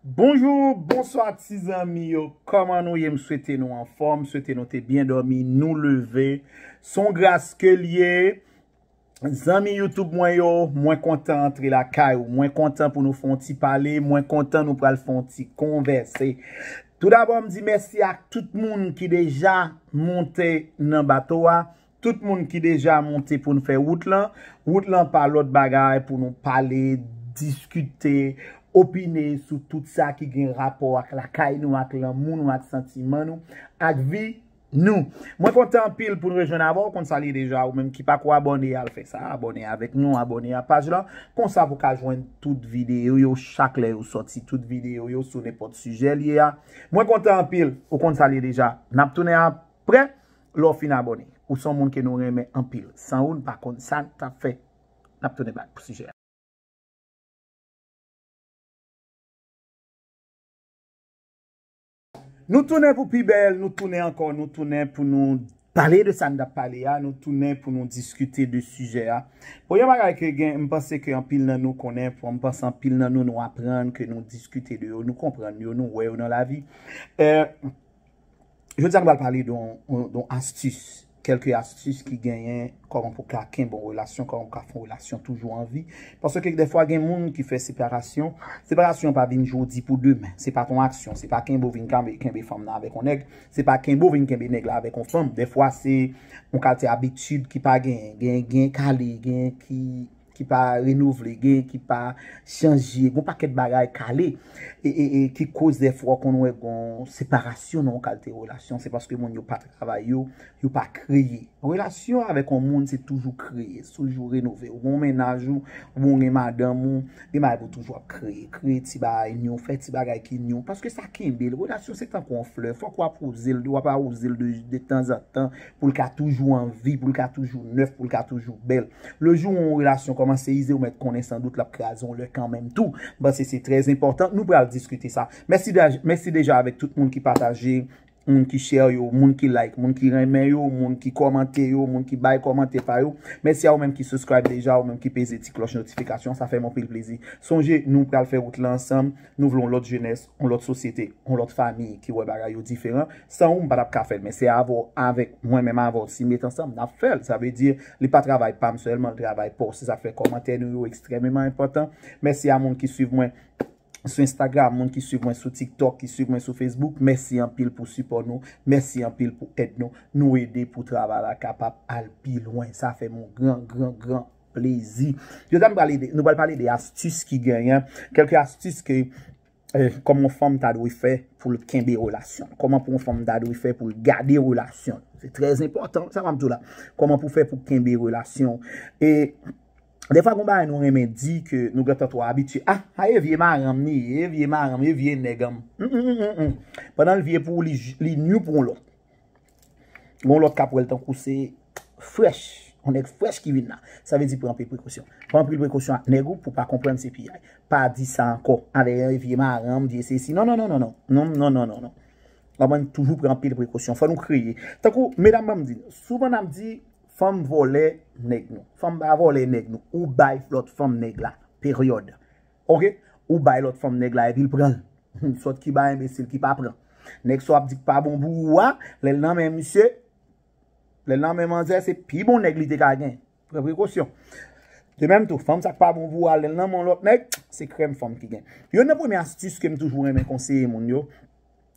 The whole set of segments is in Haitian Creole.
Bonjour, bonsoir ti zanmi yo, kòman nou ye, m swete nou anfòm, m swete nou te byen dòmi, nou leve, son gras ke l ye, zanmi youtube mwen yo, mwen kontan antre lakay ou, mwen kontan pou nou fè yon ti pale, mwen kontan nou pral fè yon ti konvèse. Tou dabò m di mèsi ak tout moun ki deja monte nan bato a, Tout moun ki deja monte pou n fè wout lan, wout lan pa lòt bagay pou nou pale, diskite, opine sou tout sa ki gen rapò ak lakay nou, ak lanmou nou, ak santiman nou, ak vi nou. Mwen kontan anpil pou n rejwenn avè w, ou konn sa l ye deja, ou menm ki pa ko abòne al fè sa, abòne avèk nou, abòne a paj lan, konsa pou w ka jwenn tout videyo yo chak lè yo sòti, tout videyo yo sou nenpòt sijè l ye a. Mwen kontan anpil, ou konn sa l ye deja. N ap tounen aprè. Lè w fin abòne, ou se yon moun ke nou renmen anpil. San ou, n pa konn sa n t ap fè. N ap tounen bak pou sijè a. Nou tounen pou pi bèl, nou tounen ankò, nou tounen pou nou pale de sa n t ap pale a, nou tounen pou nou diskite de sijè a. Bon, yon bagay ke gen, m panse ke anpil nan nou konnen, m panse anpil nan nou nou aprann, ke nou diskite de yo, nou konprann yo, nou wè yo nan lavi. Jodi a nou pral pale don astis, kelke astis ki genyen koman pou ka kenbe yon relasyon, koman pou ka fè yon relasyon toujou an vi. Paske dèfwa gen moun ki fè separasyon, separasyon pa vin jodi pou demen. Se pa ton aksyon, se pa kenbe ou vin kenbe fanm nan avèk yon nèg, se pa kenbe ou vin kenbe nèg la avèk yon fanm. Dèfwa se yon kalte abitid ki pa genyen, genyen kale, genyen ki ki pa renouvle, gen ki pa chanje, gon pakèt bagay kale, e ki koz de fwa konn wè gon separasyon nan yon kalte relasyon, se paske moun yo pa travay yo, yo pa kreye. Relasyon avèk yon moun se toujou kreye, se toujou renove, ou gon mennaj ou, ou bon gen madanm ou, gen bagay pou toujou ap kreye, kreye ti bagay nyon, fè ti bagay ki nyon, paske sa kenbe l, relasyon se tankou yon flè, fòk wap wouze l, wap awouze l de tanzantan, Pou l ka toujou an vi, pou l ka toujou nèf, pou l ka toujou bèl. Le jou yon relasyon kòmanse ize, ou mèt konnen san dout l ap kraze yon lè kanmenm tou. M panse se trè enpòtan. Nou pral diskite sa. Mèsi deja avèk tout moun ki pataje, moun ki share yo, moun ki like, moun ki renmen yo, moun ki kòmante yo, moun ki bay kòmantè pa yo. Mèsi a ou menm ki subscribe deja, ou menm ki peze ti klòch notifikasyon. Sa fè m anpil plezi. Sonje, nou pral fè wout lan ansanm. Nou vle yon lòt jenès. yon lòt sosyete, yon lòt fami ki wè bagay yo diferan, san ou m pa t ap ka fè l men se avè w avèk mwen menm avè w si n met ansanm n ap fè l sa vle di li pa travay pa m sèlman l travay pa w se sa k fè kòmantè nou yo ekstrèmeman enpòtan mèsi a moun ki swiv mwen sou Instagram moun ki swiv mwen sou tiktok ki swiv mwen sou Facebook mèsi anpil pou sipò nou mèsi anpil pou èd nou nou ede pou travay la kapab al pi lwen sa fè m yon gran gran gran. plezi. Jodi a nou pral ede, nou pral pale de astis ki genyen, kelke astis ke koman yon fanm ta dwe fè pou l kenbe relasyon l, koman pou yon fanm ta dwe fè pou l gade relasyon l. Se trèz enpòtan, sa map di w la. Koman pou fè pou kenbe relasyon w. E defwa gon bagay nou renmen di ke nou gentan twò abitye. A, a e vye maranm li ye, e vye maranm, e vye nèg an m. Humm, humm, humm, humm. Pandan l vye pou w li li nu pou yon lòt. Gon lòt kap wèl tankou se frèch. On nèg frèch ki vin la. Sa vle di pran anpil prekosyon. Pran anpil prekosyon ak nèg ou pou pa konprann se piyay. Pa di sa ankò. Avè yon vye maranm, vye se si. Non, non, non, non, non. Non, non, non, non, non. Wap wè nou toujou pran anpil prekosyon. Fò nou kreye. Tankou, medam banm di. Souvan nap di, fanm vòlè nèg nou. Fanm pa vòlè nèg nou. Ou bay lòt fanm nèg la. Peryòd. Ok ou bay lot fanm neg la epil pranl humm sot kiba enbesil ki pa pran neg sa wap di ki pa bon pou ou a lel nan men misye lel nan men manzè se pi bon neg li te ka gen pran prekosyon de menm tou fanm sak pa bon pou ou a lel nan men yon lot neg se krèm fanm ki gen yonn nan premye astis kem toujou renmen konseye moun yo.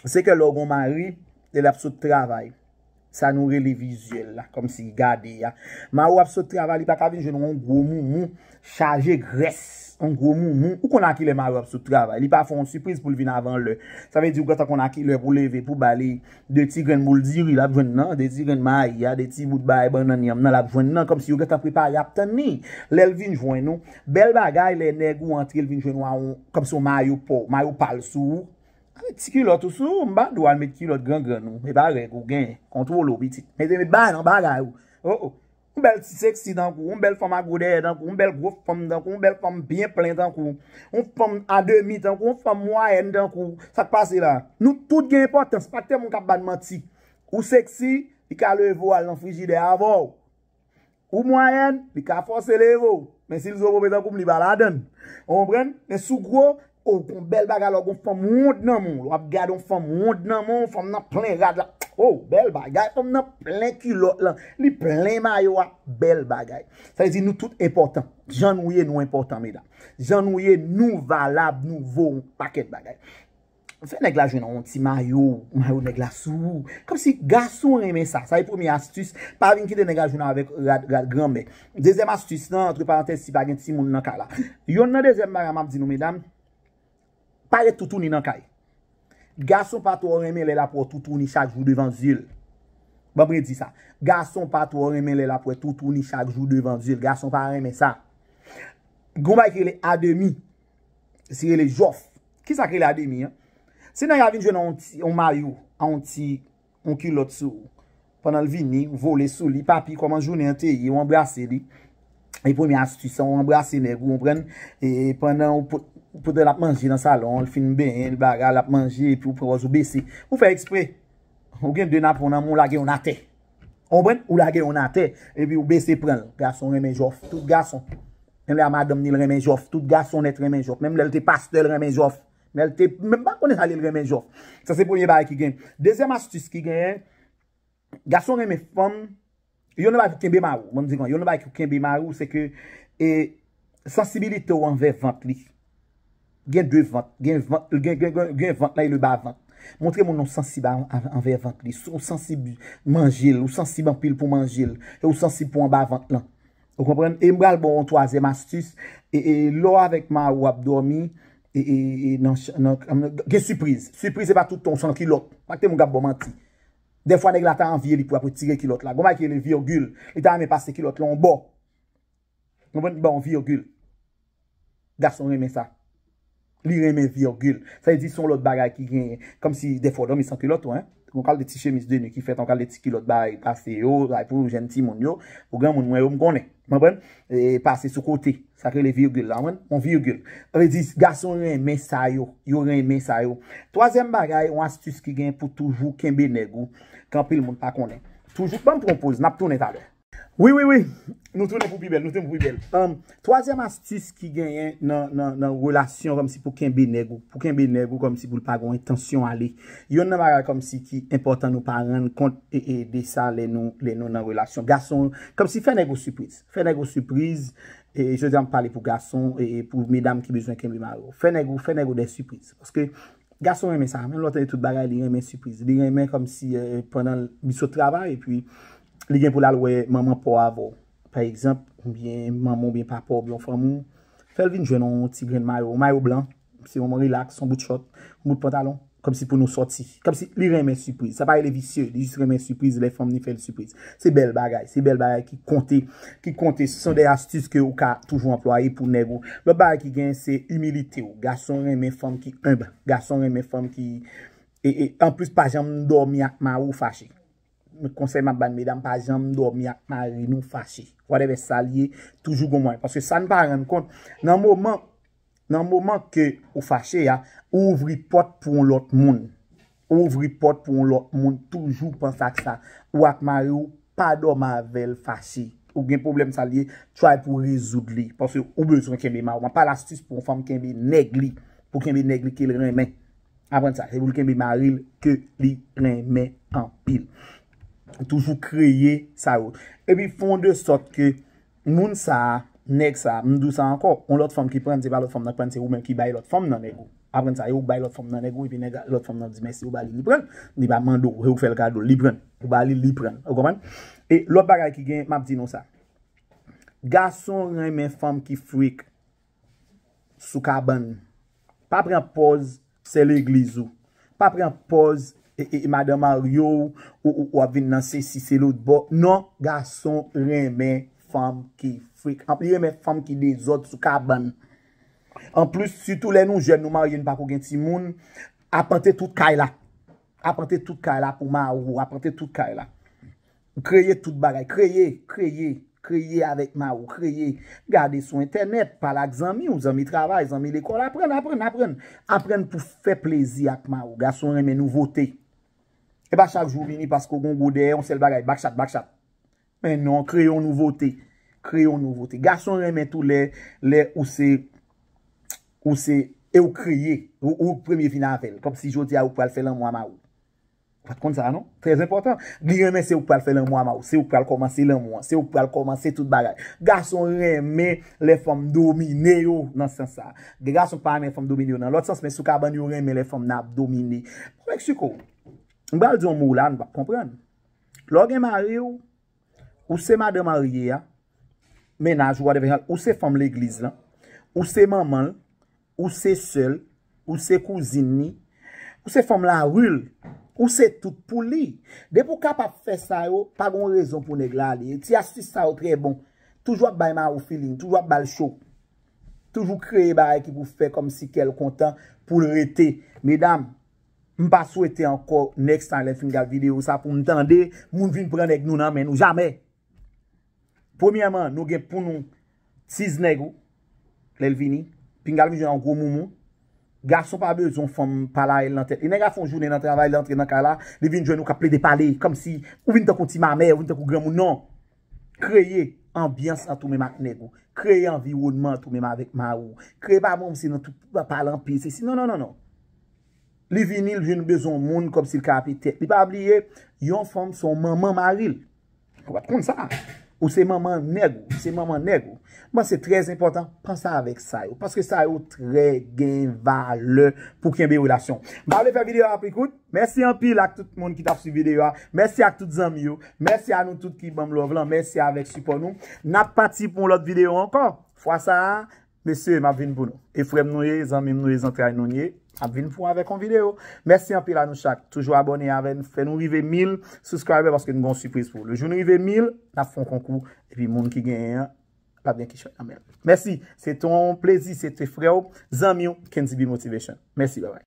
Se ke lè w gon mari, e lap sot travay, sa nou rele vizyèl la, kòm si gade a. Mari w ap sot travay, li pa ka vin jwenn yon gwo moumou, chaje grès, yon gwo moumou. Ou konn a ki lè mari w ap sot travay, li pa fè yon sipriz pou l vin avan lè. Sa vle di ou gentan konn a ki lè pou leve, pou ba li 2 ti grenn boul diri lap jwenn nan, 2 ti grenn mayi a, 2 ti bout bay bannann yanm nan lap jwenn nan, kòm si yo gentan prepare ap tann li. Lè l vin jwenn ou, bèl bagay lè nèg ou antre l vin jwenn ou a yon, kòm si yon mayo pa w, mayo pa l sou ou, Met ti kilòt ou sou ou mpa dwal met kilòt gran grann ou epa règ ou gen kontwole ou pitit mete met ba nan bagay ou oh oh yon bèl ti sexy tankou ou yon bèl fanm a gwo dèyè tankou ou yon bèl gwo fanm tankou ou yon bèl fanm byen plen tankou ou yon fanm a demi tankou ou yon fanm mwayèn tankou ou sak pase la nou tout gen enpòtans pa kite moun kap bann manti ou sexy li ka leve ou al nan frijidè avèw Ou mwayèn, li ka fòse leve w. Men si l zo pope tankou m, li pa ladan l. Ou konprann? Men si w gwo, o, w gon bèl bagay lè w gon fanm won nan men w. Lè w ap gade yon fanm won nan men w, fanm nan plen rad la. O, bèl bagay! Fanm nan plen kilòt lan. Li plen mayo a. Bèl bagay. Sa vle di nou tout enpòtan. Jan nou ye, nou enpòtan, medam. Jan nou ye, nou valab, nou vo yon pakèt bagay. Fè nèg la jwenn yon ti mayo, mayo nèg la sou ou. Kòm si gason renmen sa. Sa e premye astis. Pa vin kite nèg la jwenn avèk rad, rad granmè. Dezyèm astis lan, antre parantèz si pa gen timoun nan kay la. Yonn nan dezyèm bagay m ap di nou medam, pa ret toutouni nan kay. Gason pa twò renmen lè l ap wè toutouni chak jou devan zye l. Ban m redi sa. Gason pa twò renmen lè l ap wè toutouni chak jou devan zye l. Gason pa renmen sa. Gon bagay ki rele ademi. Li rele jòf. Ki sa ki rele ademi an? Se nèg la vin jwenn yon mayo a yon ti yon kilòt sou pandan l vini, vole sou li, papi kòman jounen an te ye, ou anbrase li. E premye astis an, ou anbrase nèg ou, konprann? E pandan ou pot, pote l ap manje nan salon, l fin benyen, l bagay, l ap manje, epi ou pran pòz ou bese. Ou fè eksprè. Ou gen 2 napon nan men w, ou lage youn atè. Ou konprann? Ou lage youn atè, epi ou bese pran l. Gason renmen jòf. Tout gason. Menm lè a madanm ni l renmen jòf. Tout gason nèt renmen jòf. Menm lè l te pastè l renmen jòf. Lè l te, menm pa konnen sa li l renmen jòf. Sa se premye bagay ki gen. Dezyèm astis ki genyen, gason renmen fanm, youn nan bagay pou kenbe mari w, banm di kon, youn nan bagay pou kenbe mari w se ke e. Sansibilite w anvè vant li. Gen 2 vant. Gen vant, gen vant la e le ba vant. Montre moun ou sansib anvè vant li. Si w sansib manje l, ou sansib anpil pou manje l. E ou sansib pou anba vant lan. Ou konprann? E m pral ba w yon twazyèm astis. E lè w avèk mari w ap dòmi, gen sipriz. Sipriz se pa tout tan w san kilòt. Pa kite moun k ap ba w manti. Dèfwa nèg la ta anvi e li pou ap retire kilòt la. Gon bagay ki rele virgil. Li ta renmen pase kilòt lan yon bò. Konprann li ba w virgil. Gason renmen sa. Li renmen virgil. Sa vle di son lòt bagay ki genyen. Kòmsi dèfwa w dòmi san kilòt tou. Yon kalite ti chemiz de nwi ki fèt, yon kalite ti kilòt bay pase yo, bay pou jèn timoun yo. Pou granmoun mwen yo m konnen. Konprann? Pase sou kote. Sa k rele virgil la. Konprann? Yon virgil. Sa vle di gason renmen sa yo. Yo renmen sa yo. Twazyèm bagay, yon astis ki gen pou toujou kenbe nèg ou. Ke anpil moun pa konnen. Toujou, banm pran yon poz. N ap tounen talè. Wi wi wi Nou tounen pou pi bèl Nou tounen pou pi bèl Humm Twazyèm astis ki genyen nan nan nan relasyon kòmsi pou kenbe nèg ou pou kenbe nèg ou kòmsi pou l pa gon entansyon ale Yonn nan bagay kòmsi ki enpòtan nou pa rann kont e e de sa lè nou lè nou nan relasyon gason kòmsi fè nèg ou sipriz fè nèg ou sipriz e e jodi a m pale pou gason e e pou medam ki bezwen kenbe mari yo fè nèg ou fè nèg ou dè sipriz paske gason renmen sa menm lò l te gen tout bagay li renmen sipriz li renmen kòmsi e pandan l li sot travay epi Li gen pou l al wè manman pa w avè w, pa egzanp, oubyen manman oubyen papa w oubyen yon fanmi w. Fè l vin jwenn yon ti grenn mayo, yon mayo blan, se yon rilaks, yon bout chòt, yon bout pantalon, kòmsi pou nou sòti. Kòmsi li renmen sipriz. Sa pa rele visye, li jis renmen sipriz lè fanm li fè l sipriz. Se bèl bagay, se bèl bagay ki konte, ki konte. Se son de astis ke ou ka toujou anplwaye pou nèg ou. Lòt bagay ki gen, se imilite w. Gason renmen fanm ki enb. Gason renmen fanm ki, e, e, anplis pa janm dòmi ak mari w fache. Mwen konsèy map ban medam pa janm dòmi ak mari nou fache whatever sa li ye toujou gon mwayen paske sa nou pa rann kont nan moman nan moman ke ou fache a ou ouvri pòt pou yon lòt moun ou ouvri pòt pou yon lòt moun toujou panse ak sa ou ak mari ou pa dòmi avèl fache ou gen pwoblèm sa li ye try pou rezoud li paske ou bezwen kenbe mari ou map pale astis pou yon fanm kenbe nèg li pou kenbe nèg li kel renmen. Aprann sa, se pou l kenbe mari l ke li renmen anpil. Toujou kreye sa yo. Epi fon de sòt ke moun sa, nèg sa, m di w sa ankò, yon lòt fanm ki pran l, se pa lòt fanm nan k pran l, se ou menm ki bay lòt fanm nan nèg ou. Aprann sa, e ou k bay lòt fanm nan nèg ou, epi nèg lòt fanm nan di mèsi ou ba li, li pran l. Li pa mande w, e ou k fè l kado, li pran l. Ou ba li, li pran l. Ou konprann? E lòt bagay ki gen, m ap di nou sa. Gason renmen fanm ki freak. sou kabann. Pa pran pòz sè legliz ou. Pa pran pòz madan marye w ou ap vin nan sesi se lotbò. Non, gason renmen fanm ki frekant. Li renmen fanm ki dezòd sou kabann. Anplis, sitou lè nou jèn, nou marye, nou pa ko gen timoun, apante tout kay la. Apante tout kay la pou mari w. Apante tout kay la. Kreye tout bagay. Kreye, kreye, kreye avèk ma ou. Kreye. Gade sou entènèt, pale ak zanmi ou, zanmi travay, zanmi lekòl. Aprann, aprann, aprann. Aprann pou fè plezi ak ma ou. Gason renmen nouvote. E pa chak jou ou vini paske ou gen yon gwo dèyè, yon sèl bagay, bakchat, bakchat. Men non, kreye yon nouvote. Kreye yon nouvote. Gason renmen tou lè, lè ou se, ou se, e ou kreye. Ou premye vini avèl. Kòm si jodi a ou pral fè lanmou a ma ou. Ou pat konn sa non. Trè enpòtan. Li renmen se ouk pral fè lanmou ama ou. Se ouk pral kòmanse lanmou an. Se ouk pral kòmanse tout bagay. Gason renmen lè fanm domine yo nan sans sa. Gen gason ki pa renmen fanm domine yo nan lòt sans men sou kabann yo renmen lè fanm nan ap domine. Bon Mexico, m pral di yon mo la nou pap konprann. Lè w gen mari w, ou se madan marye a, mennaj ou whatever, ou se fanm legliz lan, ou se manman l, Ou se sè l, ou se kouzin li, ou se fanm lari l, ou se tout pou li. Depi w kapab fè sa yo, pa gon rezon pou nèg la ale. Ti astis sa yo trè bon. Toujou ap bay mari w filing, toujou ap ba l cho. Toujou kreye bagay ki pou fè kòmsi kè l kontan pou l rete. Medam, m pa swete ankò next time lè m fin gad videyo sa pou m tande moun vin pran nèg nou nan men nou. Jamè! Premyèman nou gen pou nou tiz nèg ou lèl vini pinga l vin jwenn yon gwo moumou gason pa bezwen yon fanm palarèl nan tèt li nèg a fon jounen nan travay li antre nan kay la li vin jwenn ou kap plede pale kòmsi ou vin tankou ti mamè ou vin tankou granmoun non kreye anbyans la tou menm ak nèg ou kreye anviwònman tou menm avèk mari ou kreye pa bon se nan tout pa pale anpil se si non non non li vini l vin bezwen yon moun kòmsi l ka ape tèt li pa bliye yon fanm son manman mari l. Ou pat konn sa? Ou se manman nèg ou se manman nèg ou. Bon se trè enpòtan panse avèk sa yo. Paske sa yo trè gen valè pou kenbe relasyon. M pa vle fè videyo a pi kout. Mèsi anpil ak tout moun ki tap swiv videyo a. Mèsi ak tout zanmi yo. Mèsi a nou tout ki banm love lan. Mèsi avèk sipò nou. Nap pati pou yon lòt videyo ankò. Fwa sa a Mesye map vin pou nou. E frem nou ye e zanmim nou ye zantray nou ye map vin pou avek yon video. Mèsi anpil a nou chak toujou abone avè n fè nou rive 1000 subscriber paske nou gen yon sipriz pou ou. Le jou nou rive 1000 nap fè yon konkou epi moun ki genyen an lap gen kichòy nan menl. Mèsi se te yon plezi se te frè ou zanmi ou Kenzibi motivation. Mèsi bye bye.